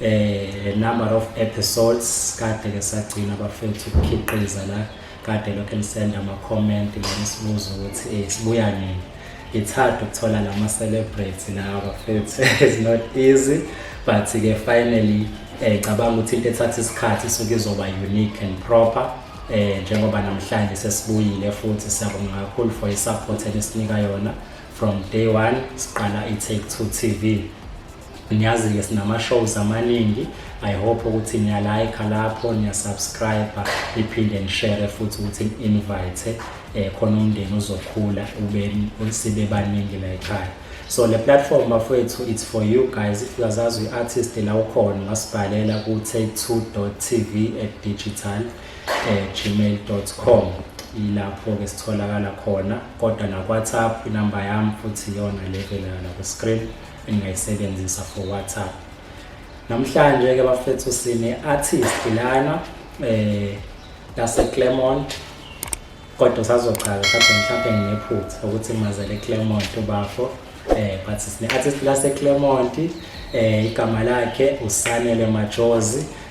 eh number of episodes kade ke sagcina bafethu ukukhiqiza la kade lokho elisenda ama comment mina sibuza ukuthi eh sibuya nini it's hard ukuthola lama celebrity lawa bafethu it's not easy but ke finally eh cabanga ukuthi into ethatha isikhathi suke izoba unique and proper eh njengoba namhlanje sesibuyile futhi siyabonga kakhulu for isupport elisinika yona from day 1 siqala i Take 2 TV Ngiyazi-ke sinama-shows amaningi i hope ukuthi niyalayikha lapho niyasubscribe niphinde nishere futhi ukuthi ni-invite um eh, khona umndeni uzokhula ube sibe baningi la ekhaya so le platform bafowethu it's for you guys if uyazazi uyi-artist la ukhona ungasibhalela ku-take2 tv at digital eh, gmail com ilapho-ke sitholakala khona kodwa nakwhatsapp inamba yami futhi iyona le velana ku-screen engingayisebenzisa for WhatsApp namhlanje ke bafethu sine artist lana eh lase Claremont kodwa sazochaza mhlawumbe mhlawumbe nginephutha ukuthi mazele Claremont ubafo eh but sine artist lase Claremont eh igama lakhe usanele majozi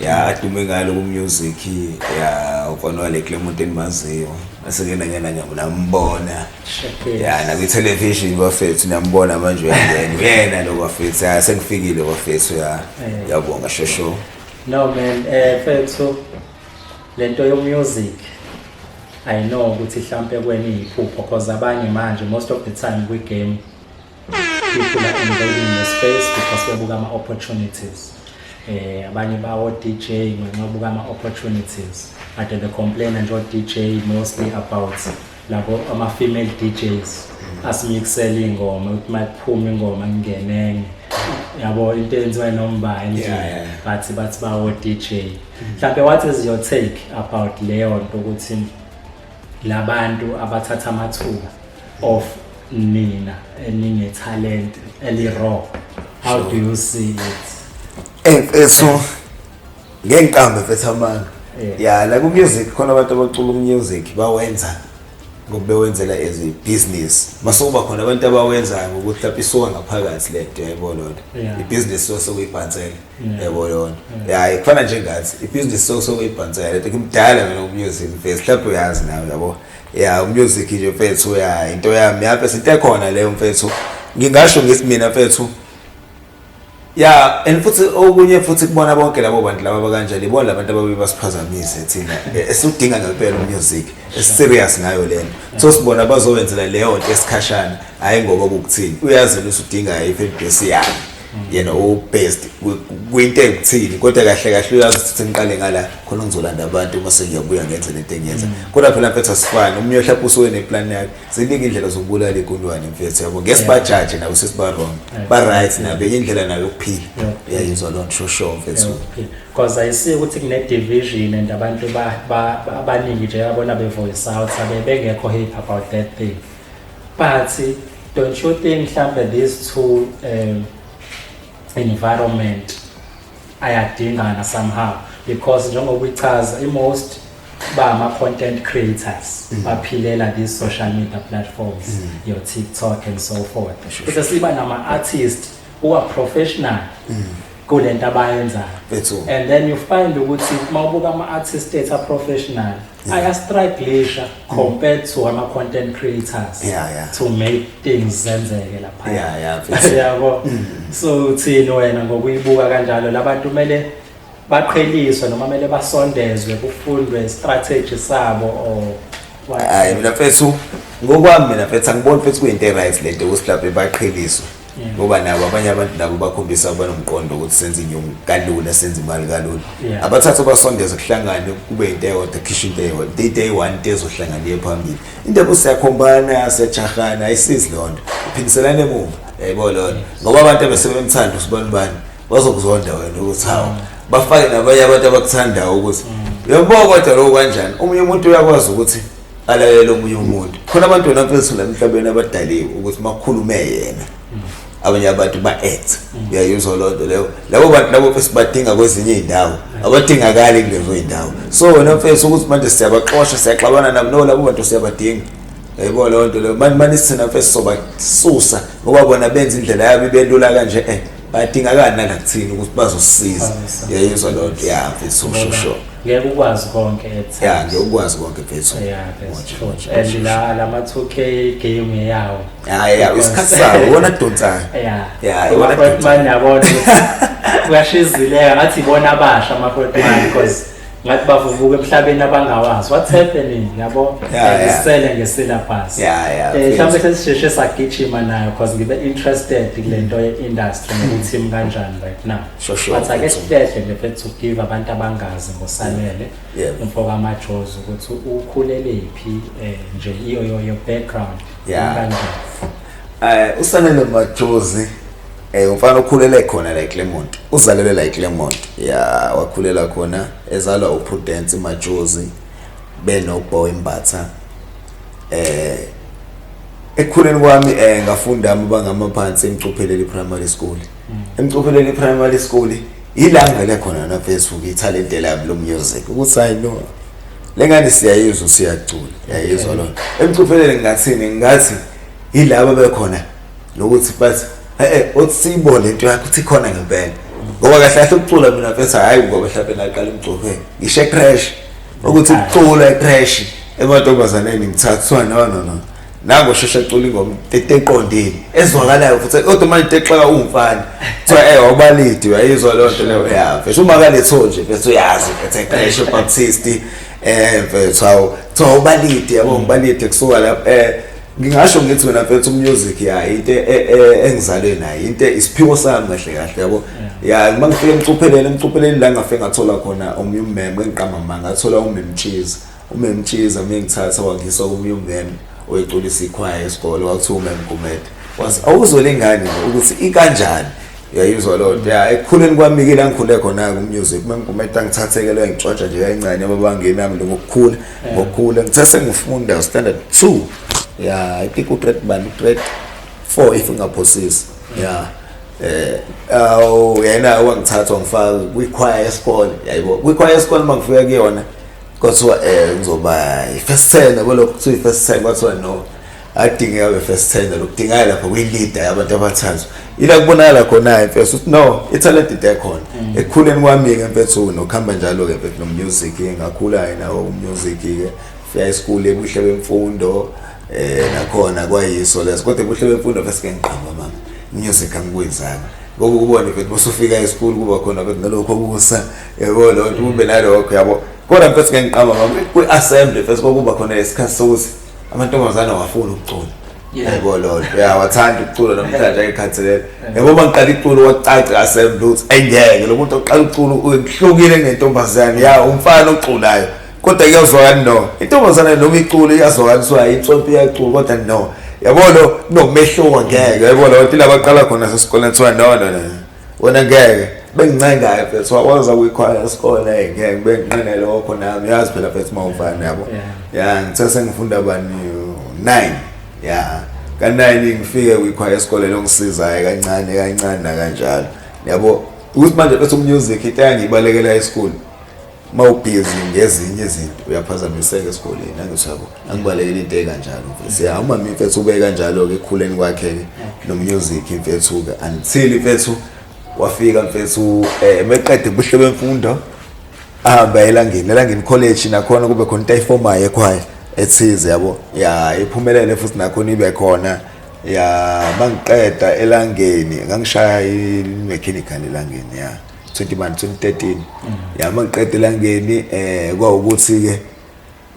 ya adume ngalo kumusic ya ufana wale kule muntu endimaziyo asekena ngena ngiyambona ya nakwi-television bafethu niyambona manje uyangena uyena lo bafethu ya sengifikile bafethu ya eh. yabonga shosho no man um fethu le nto yomusic i know ukuthi mhlawumpe kweni yiphupho because abanye manje most of the time kwi-game people are invading the space because bebuka ama-opportunities eh abanye bawo DJ ngenxa buka ama opportunities but the complain nje DJ mostly about labo ama female DJs asimixela ingoma ukuthi makuphuma ingoma ngingenenge yabo into enziwa nomba nje but bathi bawo DJ mhlawumbe what is your take about leyo nto ukuthi labantu abathatha amathuba of nina enine talent eli raw how do you see it emfethu eh, eh, ngenkambe mfethu amanga ya la ku music khona abantu abacula umusic bawenza ngokubewenzela as a business masokuba khona abantu abawenzayo ngokuthi lapho isuka ngaphakathi le nto yayibona lona ibhizinisi so sokuyibhansela yayibona lona yayi kufana njengathi ibhizinisi so sokuyibhansela le nto kumdala mina umusic mfethu mhlawumbe uyazi nawe yabo ya umusic nje mfethu ya into yami yabe sinte khona leyo mfethu ngingasho ngithi mina mfethu ya and futhi okunye futhi kubona bonke labo bantu laba bakanjani ibona labantu ababe basiphazamise thina esudinga ngempela umusic eserious ngayo lento so sibona bazowenzela leyo nto esikhashana hayi ngoba ukuthini uyazi ukuthi udinga i-fan base yakhe yena ubest kwinto ekuthini kodwa kahle kahle uyazi ukuthi sengiqale ngala khona ngizolanda abantu uma sengiyabuya ngenze lento engiyenza mm. kodwa phela mfethu asifani umnye ohlapha usuke neplan yakhe ziningi indlela zokubulala igundwane mfethu yabo ngesi bajaje nabo sesiba wrong ba right nabe indlela nayo yokuphila uyayizwa loo nto shosho mfethu because ayisiyo ukuthi kune-division and abantu abaningi nje abona be-voice out abe bengekho happy about that thing But don't you think mhlambe these two um, environment ayadingana somehow because njengoba uyichaza i-most ba ama-content creators mm. baphilela these social media platforms mm. your tiktok and so forth bese siba nama-artist who are professional mm. kule nto abayenzayo and then you find ukuthi uma ubuka ama-artist ethu a-professional aya strugglisha compared to ama content creators Yeah, yeah. to make things zenzeke lapha Yeah, yeah, mfethu. yabo so uthini wena ngokuyibuka kanjalo labantu kumele baqheliswe noma kumele basondezwe kufundwe strategy sabo or what? hayi mina mfethu ngokwami mina mfethu angiboni mfethu kuyinto e-right lento ukuthi mhlawumbe baqheliswe ngoba nabo abanye abantu nabo bakhombisa banomqondo ukuthi senze inyungu kalula senze imali kalula abathathu basondeze kuhlangane kube into eyodwa khisha into eyodwa into into eyi-one into ezohlangana iye phambili into ekuthi siyakhombana siyajahana ayisizi loo nto iphindiselane emuva yayibo loo nto ngoba abantu abesebemthanda usibani bani bazokuzonda wena ukuthi hawu mm. bafake nabanye abantu abakuthandayo ukuthi mm. yebo kodwa lokho kanjani omunye umuntu uyakwazi ukuthi alalele omunye umuntu khona abantu wena mfethu la emhlabeni abadaliwe ukuthi makhulume yena abanye abantu ba-act uyayizwa loo nto leyo labo bantu labo mfethu badinga kwezinye iy'ndawo abadingakali kulezo y'ndawo so wena mfethu ukuthi manje siyabaxosha siyaxabana nabo no labo bantu siyabadinga yayibona loo nto leyo mani mani sithina mfethu sobasusa ngoba bona benza indlela yabo ibelula kanje um badingakani nangakuthini ukuthi bazosisiza yayizwa loo nto ya mfethu sure sure ngeke ukwazi konke at ya ngeke ukwazi konke mfethu and la la ma-2k game eyawo ya ya isikhathi sawo iwona adonsayo ya ya iwona adonsayo yabona uyashizileka ngathi ibona abasha ama-portman because ngathi bavuvuka emhlabeni abangawazi what's happening yabo isele ngesilabhasi eh, mhlawumbe sesisheshe sagijima nayo because ngibe interested kule nto ye-industry nokuthi imi kanjani right now but ake sihlehle nje fethu give abantu abangazi ngosanele umfoka amajozi ukuthi ukhulelephi um eh, nje iyo yoyo background kanjani um usanele majozi Eh umfana okhulele khona la eClermont. Uzalelwe la eClermont. Ya wakhulela khona ezalwa uPrudence Majozi benoBoy Mbatha. Eh ekukhuleni kwami eh ngafunda amabanga amaphansi eMcupheleli Primary School. Mm. EMcupheleli Primary School ila ngivele khona na Facebook italent lami lo music ukuthi hayi no lengane siyayizwa siyacula yayizwa lona. EMcupheleli ngathini ngathi yilabo bekhona nokuthi bathi eh uthi siyibone lento yakho uthi khona ngempela ngoba kahle kahle ukucula mina mfethu hayi ngoba mhlawumbe ngaqala umgcokhe ngisho ecrash ukuthi ukucula ecrash emantombazaneni ngithathwa no no no nango sheshe cula ingoma eqondile ezwakalayo futhi kodwa manje texaka umfana kuthiwa eh wabalidi uyayizwa leyo nto leyo ya mfethu uma kaletho nje mfethu uyazi mfethu ecrash baptist eh mfethu awu kuthiwa ubalidi yabo ngibalidi kusuka lapho eh ngingasho ngithi wena mfethu umusic ya into e, e, e, engizalwe nayo into isiphiwo sami kahle kahle yabo ya uma ngifike emcupheleni emcupheleni la ngafe ngathola khona omunye ummeme engiqamba manga ngathola umemtshiza umemtshiza mina ngithatha wangisa omunye ummeme oyiculisa ikhwaya esikole wakuthiwa umemgumede wathi awuzole ingane ukuthi ikanjani uyayizwa loo nto ya ekukhuleni kwami ke la ngikhule khona-ke umusic uma ngigumeta ngithathekelwe ngitshotsha nje kayincane babangemi yami lo ngokukhula ngokukhula ngithe sengifunda standard two ya i think ugrade bani ugrade four if ungaphosisi ya eh awu yena wangithatha wangifaka kwikhwaya yesikole yayibo kwikhwaya yesikole uma ngifika kuyona kwathiwa um ngizoba i-first ten yabo lokho kuthiwa i-first ten kwathiwa no adingeka ke first tender lokudingaya lapha kwi-leader yabantu abathathu ila kubonakala khona-ke mfethu ukuthi no ithalent into ekhona mm. ekukhuleni kwami-ke mfethu nokuhamba njalo-ke mfethu nomusic-ke ngakhula-ke nawo umusic-ke fika esikhulu ebuhle bemfundo um nakhona kwayiso leso kodwa ebuhle bemfundo fese-ke ngiqamba mama umusic angikwenzanga ngoba ukubona mfethu bosufika esikhulu kuba khona mfethu nalokho kusa yabo lo nto kube nalokho yabo kodwa mfethu ke ngiqamba mama kwi-assembly fese kwakuba khona isikhathi sokuthi amantombazane awafuni ukucula yebo lolo uyawathanda ukucula namhlanje ayikhathalela yebo uma ngiqala iculo wacaca asembe ukuthi ayingeke lo muntu oqala uculo uhlukile nentombazane ya umfana oculayo kodwa kuyazwakani no intombazane noma iculo iyazwakaniswa insonto iyacula kodwa no yabo lo kunomehluko ngeke yabo lo nto labaqala khona sesikoleni kuthiwa no no no wena ngeke bengincengayo mfethu wakwazi akuyikhwaya esikole hey ngeke benginqene lokho nami yazi phela mfethu uma ufana yabo ya ngithe sengifunda bani 9 ya kanayini ngifike kuyikhwaya esikole longisizayo kancane kancane nakanjalo yabo ukuthi manje bese umusic into yangibalekela esikole uma ubhizi ngezinye izinto uyaphazamiseka esikoleni angithi yabo angibalekile into ekanjalo mfethu ya uma mfethu ube kanjalo ke ekhuleni kwakhe ke nomnyuziki mfethu ke until mfethu wafika mfethu eh meqede ubuhle bemfundo ahamba elangeni elangeni college nakhona kube khona into ayifomayo ekhwaya ethize yabo ya iphumelele futhi nakhona ibe khona ya mangiqeda elangeni ngangishaya i-mechanical elangeni ya 21 2013 yama ngiqede la ngeni eh kwawukuthi ke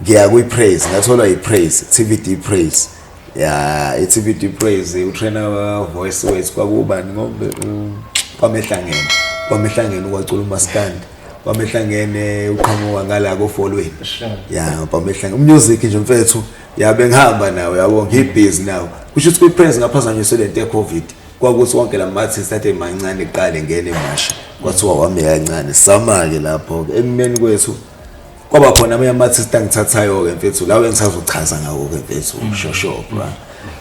ngiya kwi praise ngathola i praise TVD praise ya i TVD praise u trainer wa voice ways kwakubani ngobe kwamehlangene kwamehlangene kwacula umaskandi kwamehlangene uqhamuka ngala ko folweni ya kwamehlangene umusic nje mfethu yabe ngihamba nawe yabo ngibhizi nawe kusho ukuthi kwi praise ngaphazanyiswe lento ye covid 19 kwakuthi wonke la ma-artist athe mancane kuqala engena emasha kwathiwa wami yancane sama-ke lapho-ke ekumeni kwethu kwaba khona amanye ama-artist angithathayo-ke mfethu lawo engisazochaza ngawo-ke mfethu shoshobra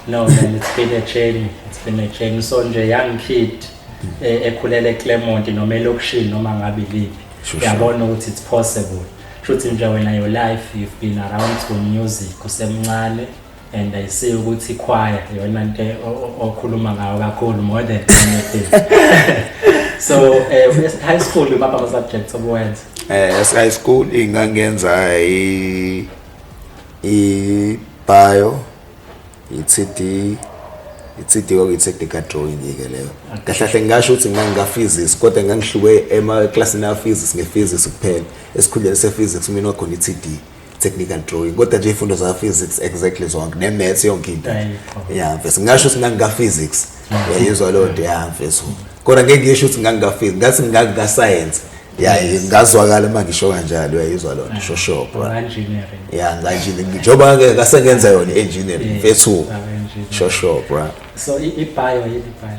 no man it's been a journey it's been a journey so nje young kid eh, ekhulela eclermont noma elokishini noma ngabe liphi uyabona ukuthi it's possible shuthi nje wena your life you've been around to music usemncane and I see ukuthi choir yona nto okhuluma ngayo kakhulu more than anything so eh uh, high school baba ama subjects obuwenza eh as high school ingangenza i i bio i CD itsithi kwakuyini sectical drawing ke leyo kahle kahle ngingasho ukuthi ngangikaphysics kodwa ngangihluke emaklasini aphysics ngephysics kuphela esikhundleni sephysics mina wakhona i-td technical drawing kodwa nje ifundo za physics exactly zonke ne maths yonke into yeah mfethu ngasho ukuthi ngangika physics uyayizwa leyo nto yeah mfethu kodwa ngeke ngisho ukuthi ngangika physics ngathi ngangika science ya ngazwakala uma ngisho kanjalo uyayizwa loo nto shoshopho ya nganjini njengoba ke kasengenza yona i-engineering mfethu shoshopho so ibhayo yini ibhayo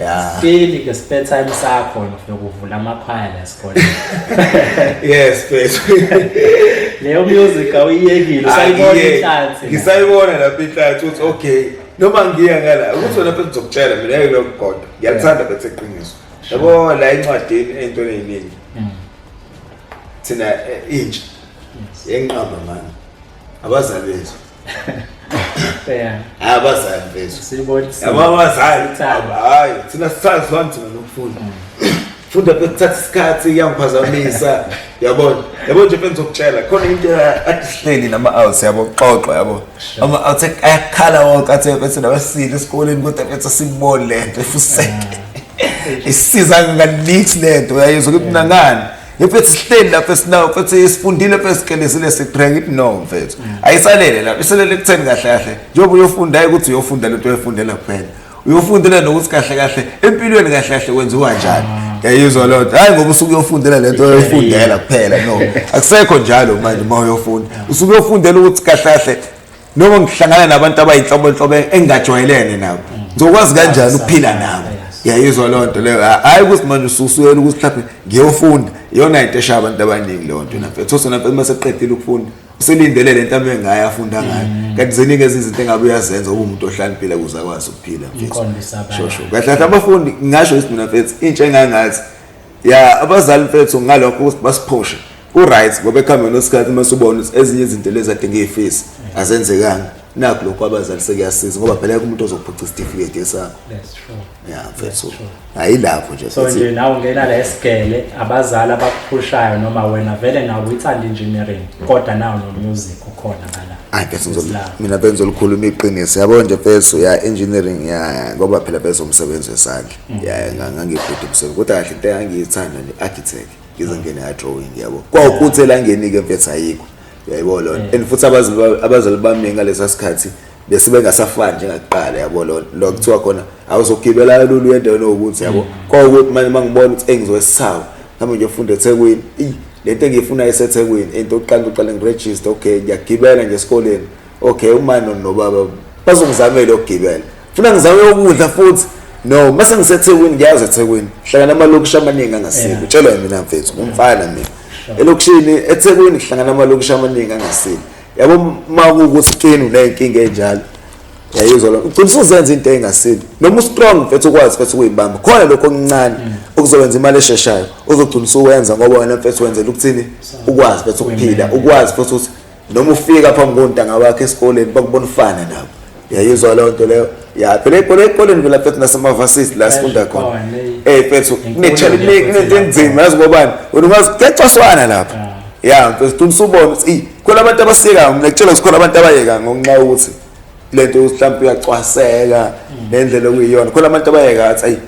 Yeah. Seli ke spare time sakho nokuvula amakhwaya la sikole. Yes, please. Leyo music awuyekile ah, usayibona inhlansi. Ngisayibona lapha inhlansi uthi okay noma ngiya ngala ukuthi wena phela uzokutshela mina yeke lo mgodo. Ngiyakuthanda bethe qiniso. Yabo la incwadini into eyiningi. Mm. Thina eh, intsha. Yenqamba manje. Abazali bethu Bheka. Hayi abazali mfethu. Sibona. Yabo abazali. Hayi thina sisazwana thina nokufunda. funda bekuthatha isikhathi iyangiphazamisa yabona yabo nje mfethu ngizokutshela khona into adisihleli nama-outs yabo kuxoxwa yabo ama-outs ayakhala wonke athe mfethu nabasile esikoleni kodwa mfethu asiboni le nto efuseke isiza ngalith le nto uyayizwa ukuthi mnangani mfethu sihleli lapho esinawo mfethu isifundile mfethu sikelezile siqhenya ithi no mfethu mm. ayisalele lapho iselele kutheni kahle kahle njengoba uyofunda hayi ukuthi uyofunda lento oyifundela kuphela uyofundela nokuthi kahle kahle empilweni kahle kahle kwenziwa njani ah. yayizwa loo nto hhayi ngoba usuke uyofundela le nto oyoyifundela kuphela no akusekho njalo manje uma uyofunda usuke uyofundela ukuthi kahle kahle noma ngihlangana nabantu abayinhlobonhlobo engingajwayelene nabo ngizokwazi kanjani ukuphila nabo yayizwa loo nto leyo hhayi ukuthi manje ususuyela ukuthi mhlawumbe ngiyofunda iyona into eshaya abantu abaningi leyo nto namfethu those namfethu uma seqedile ukufunda uselindele le nto abe ngayo afunda ngayo mm. kanti ziningi ezinye izinto engabe uyazenza ube umuntu ohlaniphile kuze akwazi ukuphila mfethu shosho kahle kahle abafundi ngingasho ukuthi mina mfethu intsha engangathi ya abazali mfethu ngalokho basiphoshe ku-right ngoba ekuhambeni kwesikhathi uma subona ukuthi ezinye izinto lezi adinga iy'fisi azenzekanga nakho lokho abazali sekuyasiza ngoba phela ke umuntu ozophuca isitifiketi esakho ya mfethu hayi lapho nje so nje nawe ungena la esigele abazali abakuphushayo noma wena vele nawe uyithanda engineering kodwa nawo nomusic ukhona ngala hayi mfethu mina bengizolikhuluma iqiniso yabo nje mfethu ya engineering ya ngoba phela bezomsebenzi wesandla ya nga- ngangibhede ebusuku kodwa kahle into engangiyithanda ne-architect ngize ngene adrawing yabo kwawukuthi elangenike mfethu ayikho yayibona lona and futhi abazali ba- abazali bami ngalesa sikhathi bese bengasafani njengakuqala yabo lona lo kuthiwa khona awuzogibela kalula uye endaweni owukuthi yabo kwawukuthi manje uma ngibona ukuthi engizowesawu nami ngiyofunda ethekwini Eyi, le nto engiyifunayo isethekwini into oqala uqale ngirejiste okay ngiyagibela nje esikoleni okay umano nobaba bazongizamela ukugibela funa ngizame ukudla futhi no mase ngisethekwini ngiyazi ethekwini hlangana amalokishi amaningi angasile utshelwa mina mfethu ngumfana mina elokishini ethekwini hlangana amalokishi amaningi angasile yabo uma kuwukuthi kini uneyinkinga enjalo yayizwa lo ugcina usuzenza into engasile noma ustrong mfethu ukwazi mfethu ukuyibamba khona lokho okuncane mm. okuzowenza imali esheshayo uzogcina usuwenza ngoba wena mfethu wenzela ukuthini ukwazi mfethu ukuphila ukwazi futhi ukuthi noma ufika phambi kontanga wakhe esikoleni bakubona ufana nabo yayizwa loo nto leyo ya phela ibhola ekoleni vela fethu nasemavasisi la sifunda khona ey fethu kunento enzima yazi ngobani wena ungazi kuyacwaswana lapha ya mfethu ufuna usubona ukuthi khona abantu abasiyekayo mina kutshela ukuthi khona abantu abayeka ngonxa ukuthi lento mhlawumbe uyacwaseka mm. nendlela okuyiyona khona abantu abayeka athi ayi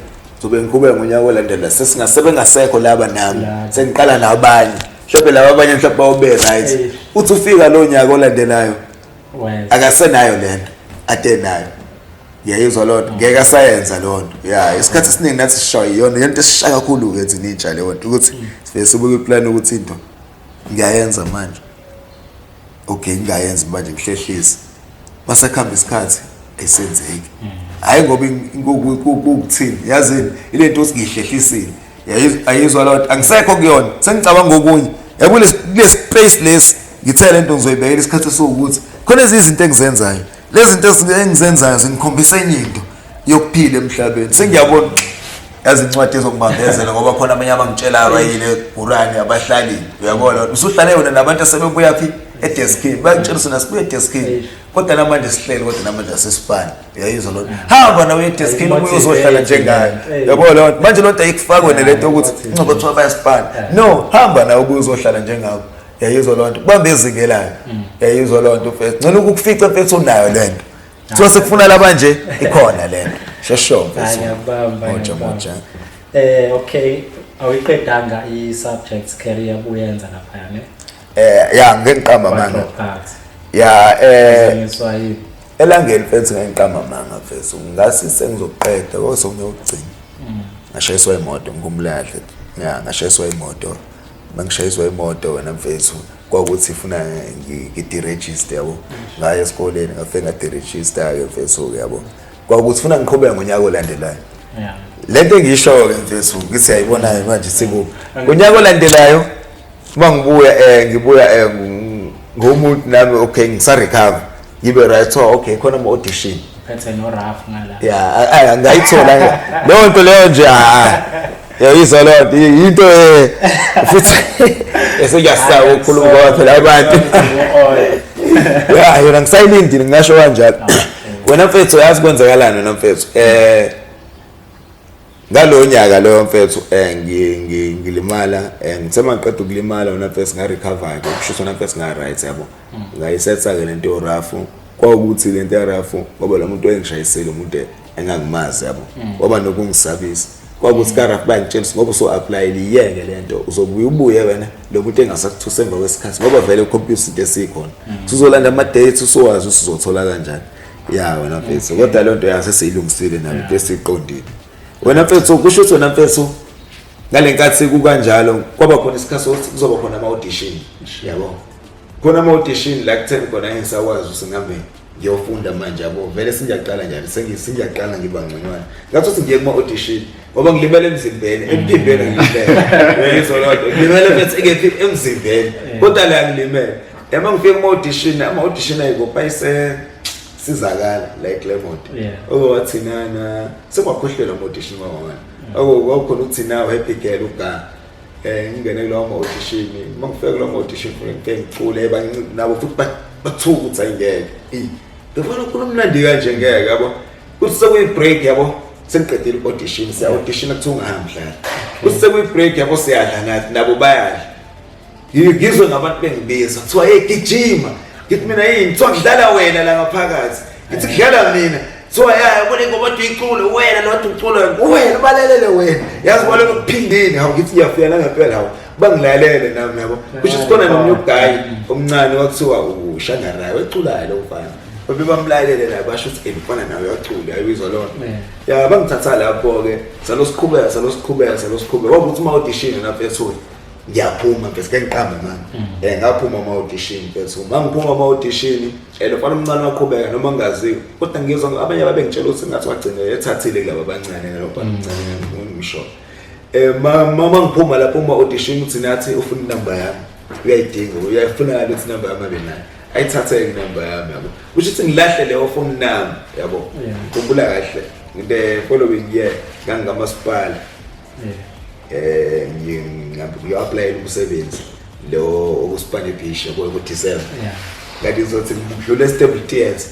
zobe ngiqhubeka ngonyaka olandela sesingasebengasekho laba nami sengiqala nabanye mhlawumbe laba abanye mhlawumbe bawube right eh. uthi ufika lo nyaka olandelayo akasenayo lento ade nayo ngiyayizwa loo nto ngeke asayenza loo nto ya isikhathi esiningi nathi sishawa iyona yonto esisha kakhulu-ke thina intsha leyo nto ukuthi mm. sivele sibuke iplani ukuthi into ngiyayenza manje okay ngingayenzi manje ngihlehlise masakuhamba isikhathi esenzeki hayi ngoba kukuthini yazini ile nto siyihlehlisile ayizwa loo nto angisekho kuyona sengicabanga ngokunye yabona kule space lesi ngithe le nto ngizoyibekela isikhathi esiwukuthi khona ezinye izinto engizenzayo lezi zinto engizenzayo zingikhombisa enye into yokuphila emhlabeni sengiyabona yazi incwadi ezokubambezela ngoba khona abanye abangitshela abayile gurani abahlalile uyabona usuhlale yona nabantu asebebuya phi edeskini bayakutshela usona sibuya edeskini kodwa namanje sihlele kodwa namanje asesifani uyayizwa loo hamba nawe edeskini omunye uzohlala njengayo yabo loo nto manje loo nto ayikufakwe nale nto yokuthi ingcobo kuthiwa bayasifana no hamba nawe obuye uzohlala njengako yayizwa loo nto kubambe ezingelayo mm. yayizwa loo nto mfethu ngcela ukukufica mfethu unayo le nto kuthiwa sekufuna laba nje ikhona le nto shesho mfethumoja moja um eh, okay awuyiqedanga i-subject career buyenza laphaya ne um ya ngengiqamba manga ya um elangeni mfethu ngengiqamba manga mfethu ngasi sengizoqeda kosokunye ukugcina mm. ngashayiswa imoto ngumlahle ya ngashayiswa imoto mangishayiswa imoto wena mfethu kwakuthi funa ngidirejiste yabo ngaye esikoleni ngafike ngadirejista-ke mfethu-ke yabo kwakuthi funa ngiqhubeke ngonyaka olandelayo le nto engiyisho-ke mfethu ngithi yayibona-ke manje sikuphi ngonyaka olandelayo uma ngibuya um ngibuya um ngomuntu nami okay ngisarecover ngibe right oh okay khona ama audition phethe no rough ngala yeah ngayithola leyo nto leyo nje ah yayizwa leyo nto into eh, futhi esiyasaba ukukhuluma ngoba phela abantu yeah yona ngisayilindile ngingasho kanjalo ah, wena mfethu yazi kwenzakalani wena mfethu eh ngalo nyaka loyo mfethu eh, ngilimala eh, ngithe mangiqeda ukulimala wona mfethu nga-recover-ke ukushuthi wona mfethu nga-right yabo hmm. ngayisetha-ke le nto yorafu kwawukuthi le nto yarafu ngoba lo muntu engishayisile umuntu engangimazi yabo hmm. waba nokungisabisa kwakuthi hmm. karaf bangitshela ngoba uso-aplayile iyeke le nto uzobuye ubuye wena lo muntu engasakuthusa emva kwesikhathi ngoba vele ukhompyutha into esiyikhona sizolanda ama-date usowazi usizothola kanjani ya wena mfethu kodwa lento yase seyilungisile nami bese iqondile wena mfethu kusho ukuthi wena mfethu ngalenkathi kukanjalo kwaba khona isikhathi sokuthi kuzoba khona ama audition yabo khona ama audition la kutheni khona engisakwazi usingambe ngiyofunda manje yabo vele singiyaqala njalo sengiyaqala ngiba ngconywana ngathi ukuthi ngiye kuma audition ngoba ngilimele emzimbeni emphimbeni ngilimele ngizolonto ngilimele mfethu emzimbeni kodwa la ngilimele yama ngifike kuma audition ama audition ayiko payise sizakala la eClermont oko wathinana sekwakhohlelwa ama audition kwawana mm. oko kwakhona ukuthina happy girl uga eh ngingene kulowo ma audition uma ngifike kulowo ma audition ngifike ngifike ngicule banciphe nabo futhi bathuka ukuthi ayingeke eh ngifuna ukukhuluma umnandi kanje ngeke yabo kuthi sekuyi break yabo sengiqedile i-audition siya-audition kuthiwa ungahambi dlala kuthi sekuyi-break yabo siyadla nathi nabo bayadla ngizwe ngabantu bengibiza kuthiwa hey gijima ngithi mina yini kuthiwa ngidlala wena la ngaphakathi ngithi kudlala mina kuthiwa ya yabona ingoma kodwa iculo wena lodwa uculo wena ubalalele wena yazi kwalo kuphindini hawu ngithi ngiyafika nangempela hawu bangilalele nami yabo kusho sikhona nomunye uguy omncane wakuthiwa ushangarayi weculayo lo mfana babe bamlalele naye basho ukuthi ngifana nawe uyacula ayibizwa lona ya bangithatha lapho-ke salosiqhubeka salosiqhubeka salosiqhubeka kwakuthi uma udishini lapho ethule ngiyaphuma mfethu ke ngiqambe manje mm. eh ngaphuma ama audition mfethu uma ngiphuma ama audition eh lofana umncane waqhubeka noma ngaziwe kodwa ngizwa abanye babe ngitshela ukuthi ngathi wagcina ethathile kulabo abancane lofana umncane mm. ngisho eh mama ngiphuma lapho uma audition uthi nathi ufuna inamba yami uyayidinga uyayifuna ngale ukuthi inamba yami abe nayo ayithathe inamba yami yabo kusho ukuthi ngilahle leyo phone nami yabo ngikhumbula kahle ngide following year ngangikamasipala yeah eh ngiyapplyela umsebenzi lo okuspane beach yabo ku December yeah ngathi ngizothi ngidlule stable tears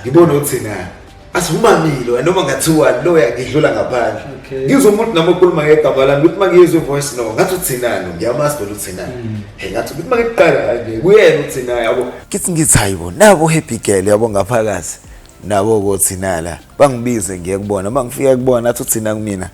ngibona ukuthi na asivumamile wena noma ngathiwa lo yakidlula ngaphandle ngizwa umuntu nami okhuluma ngegama lami ukuthi mangiyizwe voice no ngathi uthinani ngiyamazi bona uthinani mm. he ngathi ukuthi mangiqala nje kuyena uthina yabo kithi ngithi hayibo nabo happy girl yabo ngaphakathi nabo kothina la bangibize ngiye kubona mangifika kubona athi uthina kumina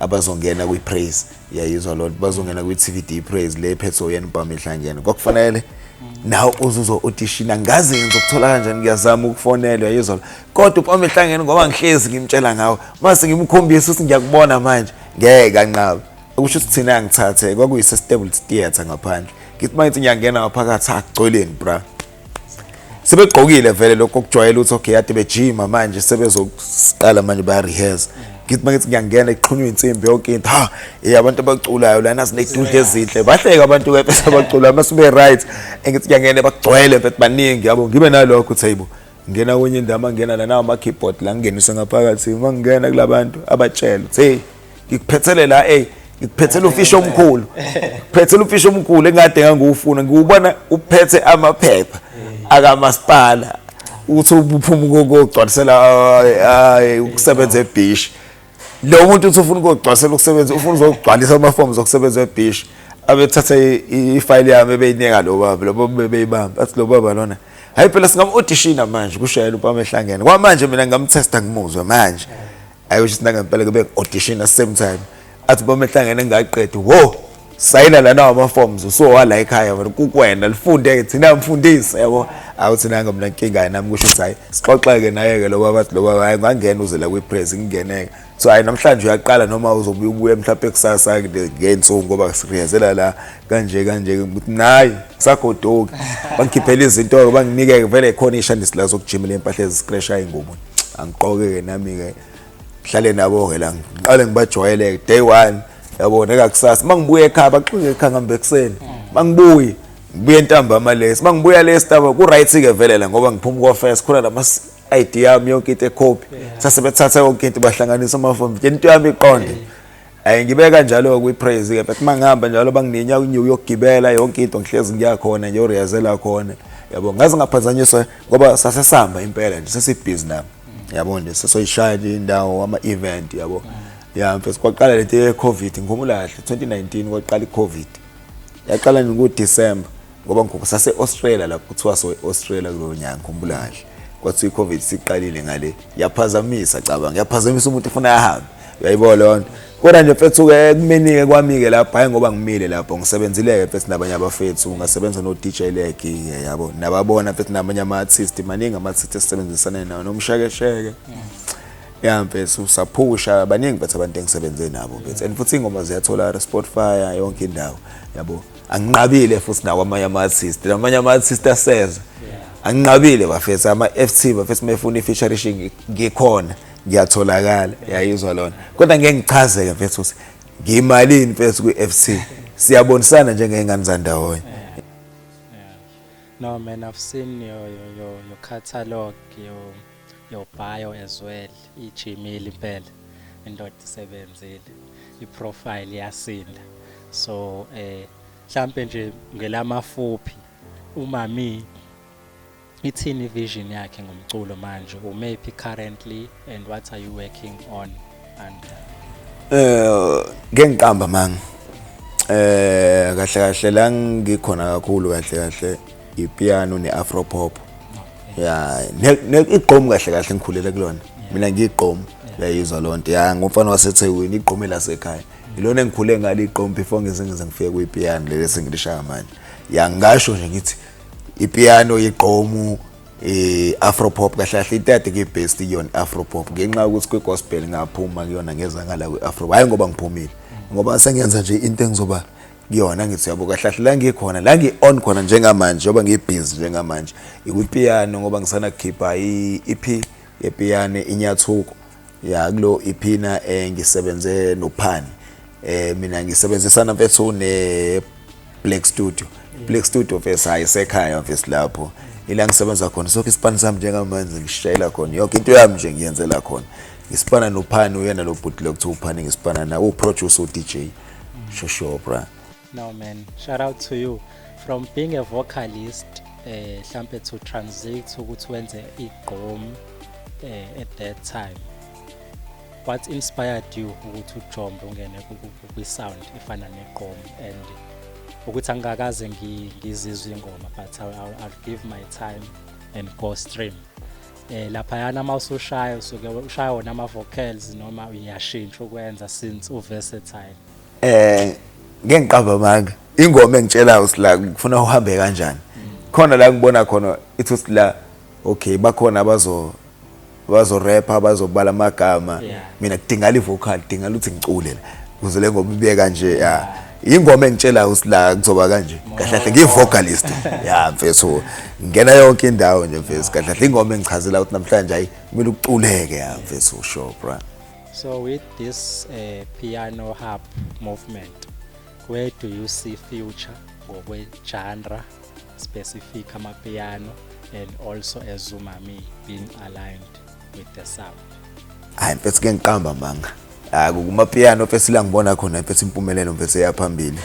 abazongena kwi-praise yayizwa loo nto bazongena kwi-tvd praise le phethe oyena ubhama ihlangene kwakufanele nawe uzuzwa utishina ngaze ngenza ukuthola kanjani ngiyazama ukufonela yayizwa kodwa ubhama ihlangene ngoba ngihlezi ngimtshela ngawo mase ngimkhombisa ukuthi ngiyakubona manje ngeke kanqaba okusho ukuthi thina angithathe kwakuyise-stable theatre ngaphandle ngithi uma ngithi ngiyangena ngaphakathi agcweleni bra sebegqokile vele lokho kujwayela ukuthi okay yade bejima manje sebezoqala manje ba rehearse ngithi mangithi ngiyangena iqhunywe insimbi yonke into ha eh abantu abaculayo lana sinedude ezinhle bahleka abantu ke bese bacula uma sibe right engithi ngiyangena bagcwele mfethu baningi yabo ngibe nalokho thaybo ngena kwenye indawo mangena lana ama keyboard la ngingenise ngaphakathi mangena kulabantu abatshela hey ngikuphethele la ey ngikuphethele ufishi omkhulu phethele ufishi omkhulu engade ngangiwufuna ngiwubona uphethe amaphepha akamasipala uthi uphuma ukugcwalisela ukusebenza ebhishi lo muntu uthi ufuna ukugcwalisela ukusebenza ufuna uzogcwalisa amafomu zokusebenza ebhishi abethatha ifayili yami ebeyinika lo baba lo baba bebeyibamba athi lo baba lona hayi phela singamu-odishina manje kushayela umpama ehlangene kwamanje mina ngingamthesta ngimuzwe manje ayo sisi nangempela ke bengi-audition same time athi uma mehlangene ngaqedi wo sayina lana wama-forms usowala ekhaya wena kukwena lifunde-ke thina mfundisi yabo awu thina-ke mna nkinga nami kusho ukuthi hhayi sixoxe-ke naye-ke lo baba athi lo baba hhayi ngangena uze la kwi-press ngingeneke so hhayi namhlanje uyaqala noma uzobuye ubuye mhlawumpe kusasa ngey'nsuku ngoba siriyazela la kanje kanje ukuthi nayi kusagoduki bangikhiphela izinto-ke banginike-ke vele khona iy'shandisi la zokujimela iy'mpahla ezisikreshaya ingubo angiqoke-ke nami-ke ngihlale nabo-ke la ngiqale ngibajwayele-ke day one yabo nekakusasa uma ngibuya ekhaya baxinge ekhaya ngihambe ekuseni uma ngibuye ngibuye ntambama lesi uma ngibuya lesi ntambama ku-right-ke vele la ngoba ngiphuma kofes khona la mas-id yami yonke into ekhophi sase bethatha yonke into bahlanganisa amafomu into yami iqonde yeah. Ay ngibeka njalo kwi praise ke uma ngihamba njalo bangininyawo unyuku yokugibela yonke into ngihlezi ngiyakhona nje uriyazela khona yabo ngaze ngaphazanyiswa ngoba sasesihamba impela nje sesibhizi nami yabo nje sesoyishaya nje indawo ama event yabo ya mfethu kwaqala lento ye covid ngikhumbula kahle 2019 kwaqala i covid yaqala nje ku December ngoba ngikho sase-australia lapho kuthiwa soe-australia kulowo nyanga ngikhumbula kahle kwathiwa i-covid siqalile ngale yaphazamisa cabanga yaphazamisa umuntu efuna ahambe uyayibona leyo nto kodwa nje mfethu-ke kumeni-ke kwami-ke lapho hhayi ngoba ngimile lapho ngisebenzile-ke mfethu nabanye abafethu ngasebenza no-d j legi-ke yabo nababona mfethu nabanye ama-artist maningi ama-artist esisebenzisane nawo nomshekesheke ya mfethu saphusha baningi mfethu abantu engisebenze nabo mfethu and futhi iy'ngoma ziyathola spotify yonke indawo yabo anginqabile futhi nakwamanye ama-artist namanye ama-artist aseza anginqabile bafethu ama-f t bafethu uma efuna i-featurishingi ngikhona ngiyatholakala yayizwa lona kodwa ngeke ngichazeke mfethu ukuthi ngiyimalini mfethu kwi-f c siyabonisana njengey'ngane zandawonye No, man, I've seen your your your, your catalog, your your bio as well ijimile impela indoda isebenzile iprofile yasinda so eh mhlambe nje ngelamafuphi umami ithini vision yakhe ngomculo manje umephi currently and what are you working on Eh ngengiqamba manga. Eh kahle kahle la ngikhona kakhulu kahle kahle ipiano neafro pop. Yeah, ne igqom kahle kahle ngikhulele kulona. Mina ngigqom yayizwa lonto. Yeah, ngomfana waseThekwini igqom elasekhaya. Ilona engikhule ngalo igqom before ngeze ngize ngifike kuyipiano leli sengilishaya manje. Yangasho nje ngithi ipiano igqomu eh afropop kahle kahle itati ke best kuyona afropop ngenxa ukuthi kwi gospel ngaphuma kuyona ngeza ngala kwi afro hayi ngoba ngiphumile ngoba sengenza nje into engizoba kuyona ngithi yabo kahle kahle la ngikhona la ngi on khona njengamanje ngoba ngi busy njengamanje ikwi piano ngoba ngisana khipha i EP ye piano inyathuko ya kulo iphina eh, ngisebenze nophani eh mina ngisebenzisana mfethu ne Black Studio Black Studio mfethu hayi sekhaya mfethu lapho ila ngisebenza khona sonke isipani sami njengamanje ngishayela khona yonke into yami nje ngiyenzela khona ngisipana nophani uyena lo bhuti lokuthiwa uphani ngisipana na uproducer uDJ Shosho bra No man, shout out to you from being a vocalist eh hlampe to transit ukuthi wenze igqom eh, at that time. What inspired you ukuthi ujombe ungene kwi sound efana negqom and ukuthi angikaze ngizizwe ingoma but I'll, I'll, I'll give my time and go stream. eh lapha yana uma usushaya usuke ushaya wona ama vocals noma uyashintsha ukwenza since u versatile eh ngeke ngiqamba amanga ingoma engitshela usila ngifuna uhambe kanjani khona la ngibona khona ithi usila okay bakhona abazo bazo rap abazobala amagama mina kudingala ivocal kudingala ukuthi ngicule la kuze le ngoma ibe kanje ya ingoma engitshela usila kuzoba kanje kahle kahle ngivocalist ya mfethu ngena yonke indawo nje mfethu kahle kahle ingoma engichazela ukuthi namhlanje ayi kumele uculeke ya mfethu sure bro So with this uh, piano harp movement, where do you see future ngokwe genre specific amapiano and also as umami being aligned with the sound? Hayi mfethu ke ngiqamba manga. Hayi kuma piano mfethu la ngibona khona mfethu impumelelo mfethu eyaphambili.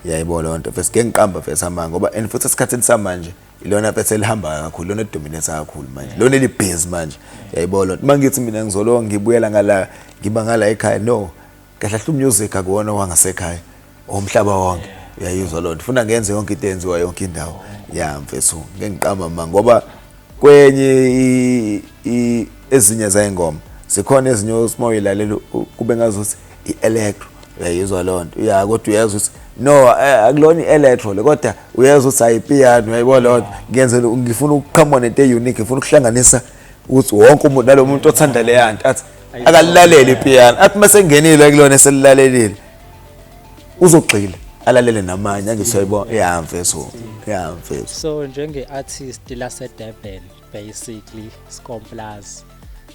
Yayibona lento mfethu ke ngiqamba mfethu amanga ngoba and futhi esikhathini samanje ilona phethe elihambayo kakhulu lona elidominate kakhulu manje lona elibhizi manje yayibona lona uma ngithi mina ngizolowa ngibuyela ngala ngiba ngala ekhaya no kahle kahle umusic akuwona wangasekhaya omhlaba wonke uyayizwa lona funa ngenze yonke into enziwa yonke indawo ya mfethu ngeke ngiqamba ma ngoba kwenye ezinye zayingoma zikhona ezinye osimoyilalela kube ngazuthi i-electro uyayizwa loo nto ya kodwa uyezwa ukuthi no eh, akulona i-electro le kodwa uyezwa ukuthi ayipiano uyayibo loo nto ngenzela ngifuna ukuqhamuka nento e-unique ngifuna ukuhlanganisa ukuthi wonke umuntu nalo muntu othanda leya nto athi akalilalele ipiano athi uma sengenile kulona eselilalelile uzogxila alalele namanye angisayibona ya mfethu ya mfethu so njenge artist la se Durban basically Scomplaz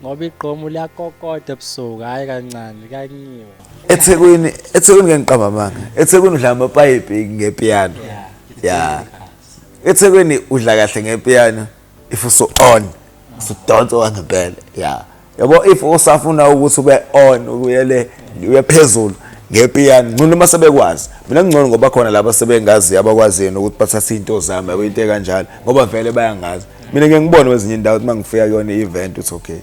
ngoba igqomu liyakokoda ebusuku hhayi kancane kanyiwe ethekwini ethekwini ke ngiqamba amanga ethekwini udla amapayipi ngepiyano ya ethekwini udla kahle ngepiyano if usu on usudonsa wangempela ya yabo if usafuna ukuthi ube on uyele uye phezulu ngepiyano ngcono uma sebekwazi mina ngcono ngoba khona laba sebengazi abakwazi yena ukuthi bathatha into zami yabo into ekanjalo ngoba vele bayangazi mina ngeke ngibone kwezinye indawo uma ngifika kuyona i-event uthi okay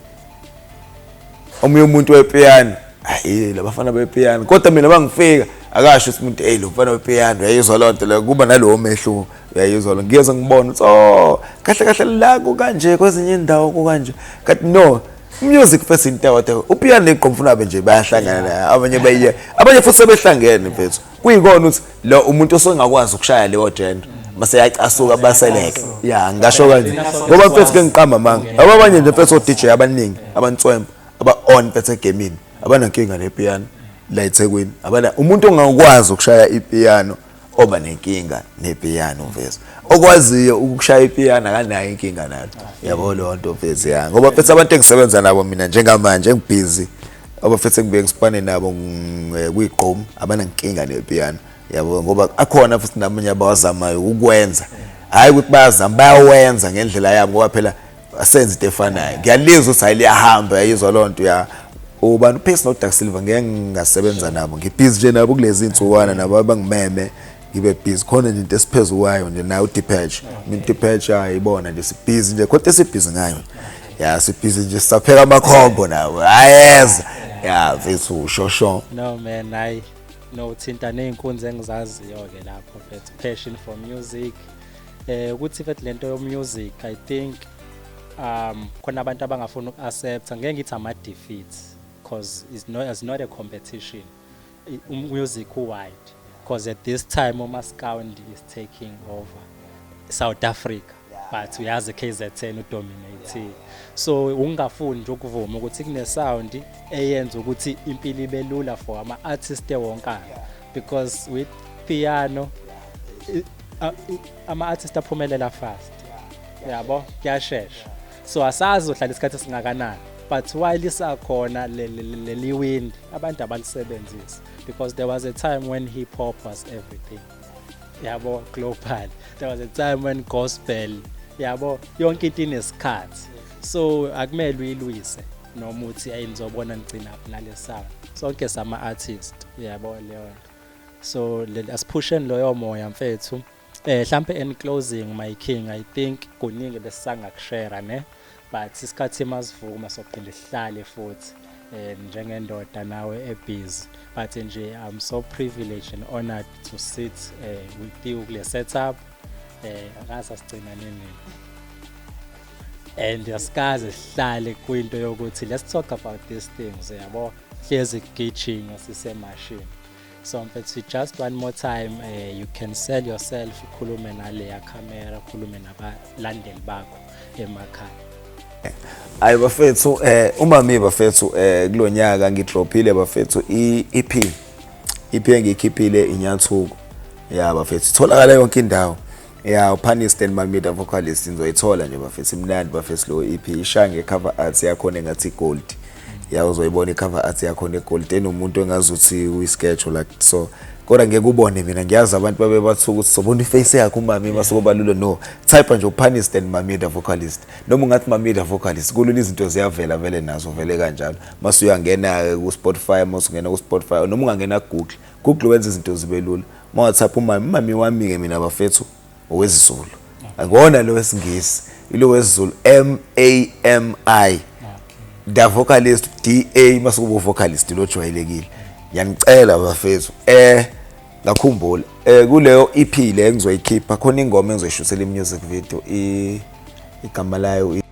omunye umuntu wepiyano hayi labafana bepiyano kodwa mina uma ngifika akasho ukuthi umuntu eyi lo mfana wepiyano yayizwa loo nto leyo kuba nalowo mehluko uyayizwa lo ngiyeza ngibona uthi oh kahle kahle la kukanje kwezinye indawo kukanje kanti no music first into wathi upiano neqomfuna abe nje bayahlangana abanye bayiye abanye futhi sebehlangene mfethu kuyikona ukuthi lo umuntu osengakwazi ukushaya leyo gender mase yacasuka baseleke ya ngasho kanje ngoba mfethu ke ngiqamba manga abanye nje mfethu o DJ abaningi abantswemba aba on mfethu egamini abanankinga nepiano la eThekwini abana umuntu ongakwazi ukushaya ipiano oba nenkinga nepiyano mfethu okwaziyo ukushaya ipiyano akanayo inkinga nalo yabo leyo nto mfethu ya ngoba mfethu abantu engisebenza nabo mina njengamanje ngibhizi abafethu engibuye ngisipane nabo eh, kuyigqom abanankinga nepiyano yabo ngoba akhona futhi namanye abawazamayo ukwenza hayi ukuthi bayazama bayawenza ngendlela yabo ngoba phela asenze into efanayo ngiyalizwa ukuthi hayi liyahamba yayizwa loo nto ya ubani upace nodark silver ngeke ngingasebenza nabo ngibhizi nje nabo kulezi nsuwana nabo abangimeme ngibe busy khona nje into esiphezu kwayo nje nayo udipatch umuntu udipatch ayibona nje sibhizi nje kodwa esibhizi ngayo ya sibhizi nje sisapheka amakhombo nawo ayeza ya mfethu ushosho no man hayi no uthinta ney'nkunzi engizaziyo-ke lapho mfethu passion for music eh ukuthi mfethu lento yo music i think um khona abantu abangafuna uku-accepta ngeke ngithi ama-defeat because it's not, it's not a competition umusic um, u-wide because at this time umascoundi is taking over south africa but uyazi KZN udominating so ungafuni nje ukuvuma ukuthi kunesound eyenza ukuthi impilo ibe lula for ama artist ewonkana because with piano ama-artist aphumelela fast yabo kuyashesha so asazi uhlala isikhathi esingakanani but while lisakhona leli windi abantu abalisebenzisi because there was a time when hip hop was everything yabo global there was a time when gospel yabo yonke into inesikhathi so akumele uyilwise noma uthi ayi nizobona ngigcina phi nalesaba sonke sama artist uyabo leyo nto so asiphusheni loyo moya mfethu eh mhlambe in closing my king i think kuningi besangakushare ne but isikhathi masivuma sokuphinde sihlale futhi eh njengendoda nawe ebusy but nje i'm so privileged and honored to sit uh, with you kule setup eh akasa sigcina nini and asikaze sihlale kwinto yokuthi let's talk about these things yabo hlezi kugijinga sisemashini so mfethu just one more time uh, you can sell yourself ukhulume naleya camera ukhulume nabalandeli bakho emakhaya hayi bafethu um umami bafethu um kulo nyaka ngidrophile bafethu i-ep iphi engiyikhiphile inyathuko ya bafethu itholakala yonke indawo ya upanist and mamida vocalist nizoyithola nje bafethu imnandi bafethu lo iphi e ishaya ngecover art yakhona engathi igold ya uzoyibona icover art yakhona egold enomuntu engazuthi uyisketch like so kodwa ngeke ubone mina ngiyazi abantu babe bathuka ukuthi sobona iface yakhe umami uma sokubalule no type nje upanist and mamida vocalist noma ungathi mamida vocalist kulula izinto ziyavela vele nazo vele kanjalo mase uyangena-ke ku-spotify mase ungena ku-spotify noma ungangena kugoogle google wenza izinto zibe lula ma whatsapp umami umami wami-ke mina bafethu owezizulu angona lo wesingisi ilo wesizulu m a m i da vocalist d a mase kuba uvocalist lo jwayelekile ngiyanicela bafethu eh ngakhumbula eh kuleyo EP le engizoyikhipha khona ingoma engizoyishuthela imusic video igama layo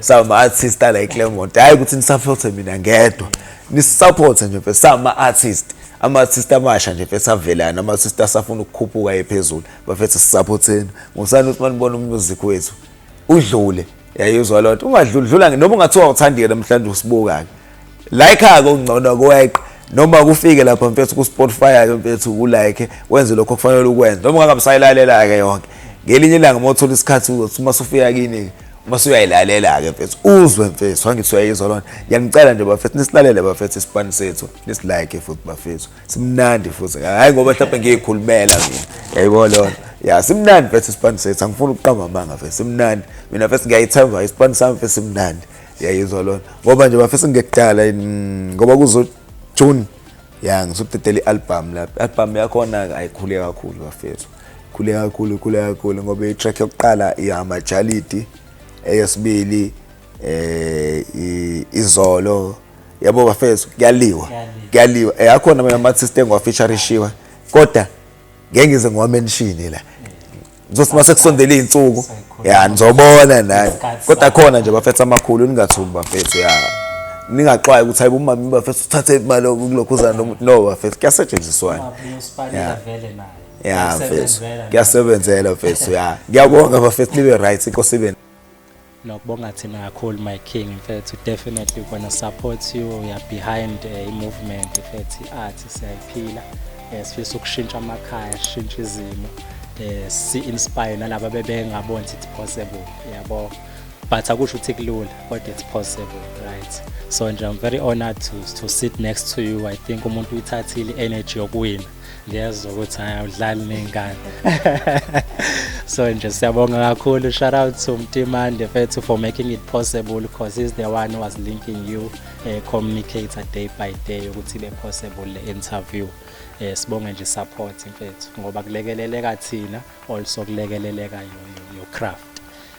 sama artist ala eClermont hayi ukuthi nisupporte mina ngedwa nisupporte nje mfethu sama artist ama artist amasha nje mfethu avelana ama artist asafuna ukukhuphuka ephezulu bafethu sisupporteni ngosani ukuthi manibona umusic wethu udlule yayizwa loo nto ungadludlula noma ungathiwa awuthandike namhlanje usibuka-ke like ake ungcono kweqa noma kufike lapha mfethu ku Spotify mfethu ku like wenze lokho kufanele ukwenze noma ungakamsayilalela ke yonke ngelinye ilanga uma uthola isikhathi uzothi uma sufika kini uma suyayilalela ke mfethu uzwe mfethu angithi uyayizwa lona ngiyanicela nje bafethu nisilalele bafethu isipani sethu nisilike futhi bafethu simnandi futhi hayi ngoba mhlawumbe ngiyikhulumela mina yayibona lona ya simnandi mfethu isipani sethu angifuni ukuqamba amanga mfethu simnandi mina mfethu ngiyayithemba isipani sami mfethu simnandi yayizwa lona ngoba nje bafisa ngekudala mm, ngoba kuzo June ya ngizokudedela i-album la album yakhona ayikhule kakhulu bafethu khule kakhulu khule kakhulu ngoba i-track yokuqala ihamajalidi eyesibili eh izolo yabo bafethu kuyaliwa kuyaliwa eyakhona eh, mina mathi sitengwa featurishiwa kodwa ngeke ngize ngiwamenshini la kuzothi uma sekusondela iy'nsuku ya nizobona naye kodwa khona nje bafethu amakhulu ningathuki bafethu ya ningaxwayi ukuthi hayibo umama bafethu uthathe imali kulokhuzana no bafethu kuyasetshenziswana ya mfethu kuyasebenzela mfethu ya ngiyabonga bafethu nibe right inkosi ibe Nokubonga thina kakhulu my king mfethu definitely we're gonna support you we are behind eh, i-movement mfethu i-art siyayiphila eh, sifisa ukushintsha amakhaya sishintshe izimo eh, si-inspire nalaba bebengaboni ukuthi it's possible yabo but akusho ukuthi kulula kodwa it's possible right so nje i'm very honored to, to sit next to you i think umuntu uyithathile i-energy yokuwina ngiyezwa ukuthi hayi awudlali ney'ngane so nje siyabonga kakhulu shout out to mtimande fethu for making it possible because he's the one who was linking you uh, communicator day by day ukuthi ibe possible le interview eh sibonge nje support mfethu ngoba kulekeleleka thina also kulekeleleka your craft